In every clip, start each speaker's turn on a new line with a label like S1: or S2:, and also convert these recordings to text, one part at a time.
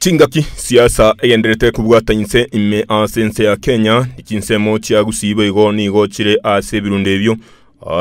S1: Chingaki chi'ensa egendererete kobwata inse ime ase ense ya Kenya, ne chinsemo chia gusii boigo nigo chire ase ebirundo ebio.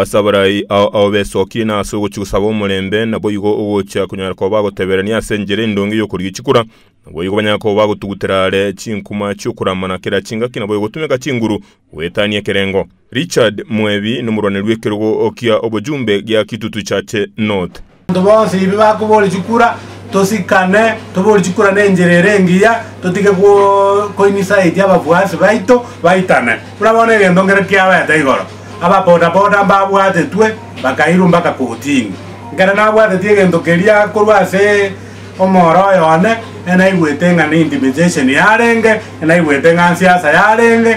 S1: Ase abarai ao ao besokirie na ase ogochia gosaba omorembe, naboigo ogochia konyara koba bagoteberania ase enchera endonge y'okorigia chikura. Naboigo banyare koba bagotugutera are chinkuma chi'okorama na kera chingaki, naboigo gotumeka chinguru goetania ekerengo. Richard Mwebi nomorwani rw'ekerogo kia Obojumbe gia Kitutu Church North. Abanto bonsi ebi
S2: bakobooria chikura, tosikane, toboorie chikura nenchera ere engiya, totige gwo- koinsite abafuasi baito baitane. Buna bono egento nkere kiabaete igoro, ababodaboda mbabwatetwe bakairwa mpaka kortini. Nkere nabwateti egento keria korwa ase omoro oyo one, enaigwete ng'a ne intimidation yarenge, enaigwete ng'a nsiasa yarenge,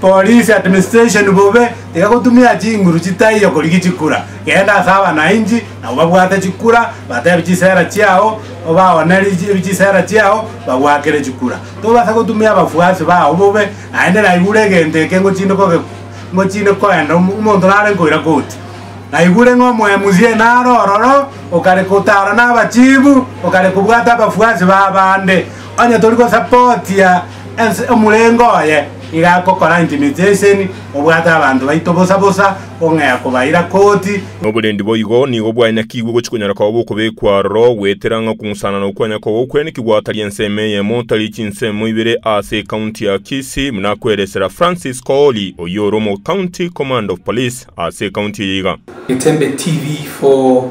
S2: Police administration bobe tiga gotumia chinguru chitaiyo korigia chikura, genda ase abanainchi na obabwate chikura batebe chisera chiao obaonere chisera chiao bagwakere chikura. Tobasa gotumia abafuasi bao bobe naende naigure egento eke ngochinde koge ngochinde koenda omonto nare nkoira koti. Naigure ng'a omo MC nare ororo okare kotara na abachibu okare kobwata abafuasi ba abande onye tori gosapotia Ase omorembe oye nigo agokora enchimichi y'enseni, obwate abanto baito bosa bosa, ong'ea kobaira koti. Na oborendi boigo
S1: nigo bwanyakigwe gochia konyara koba bokobekwa aroro, goetera ng'a okong'usanana okwanya koba okwenekigwa tari ensemo eyemo, tari chinsemo ibere ase ecounty ya Kisii, buna akweresera Francis Kooli, oyio ore omo county command of police ase ecounty eye iga. Getembe TV
S3: for.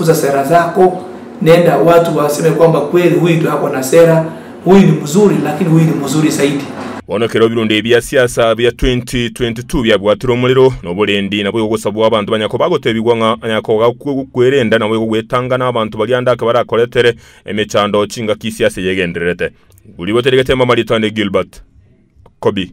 S3: Usa sera zako, nenda watu waseme kwamba kweli huyu ndio ako na sera, huyu ni mzuri, lakini huyu ni mzuri zaidi. Bono ekero ebirunde
S1: bia siasa bia 2022 biabwatire omorero, noborendi naboigo gosabwa abanto banya koba agotebigwa ng'a anyakoga kwerenda naboigo gwetanga nabanto baria ande ake barakoretere emechando chingaki siasa eye egendererete. Rigoteregete Mama Ritande Gilbert, Kobi.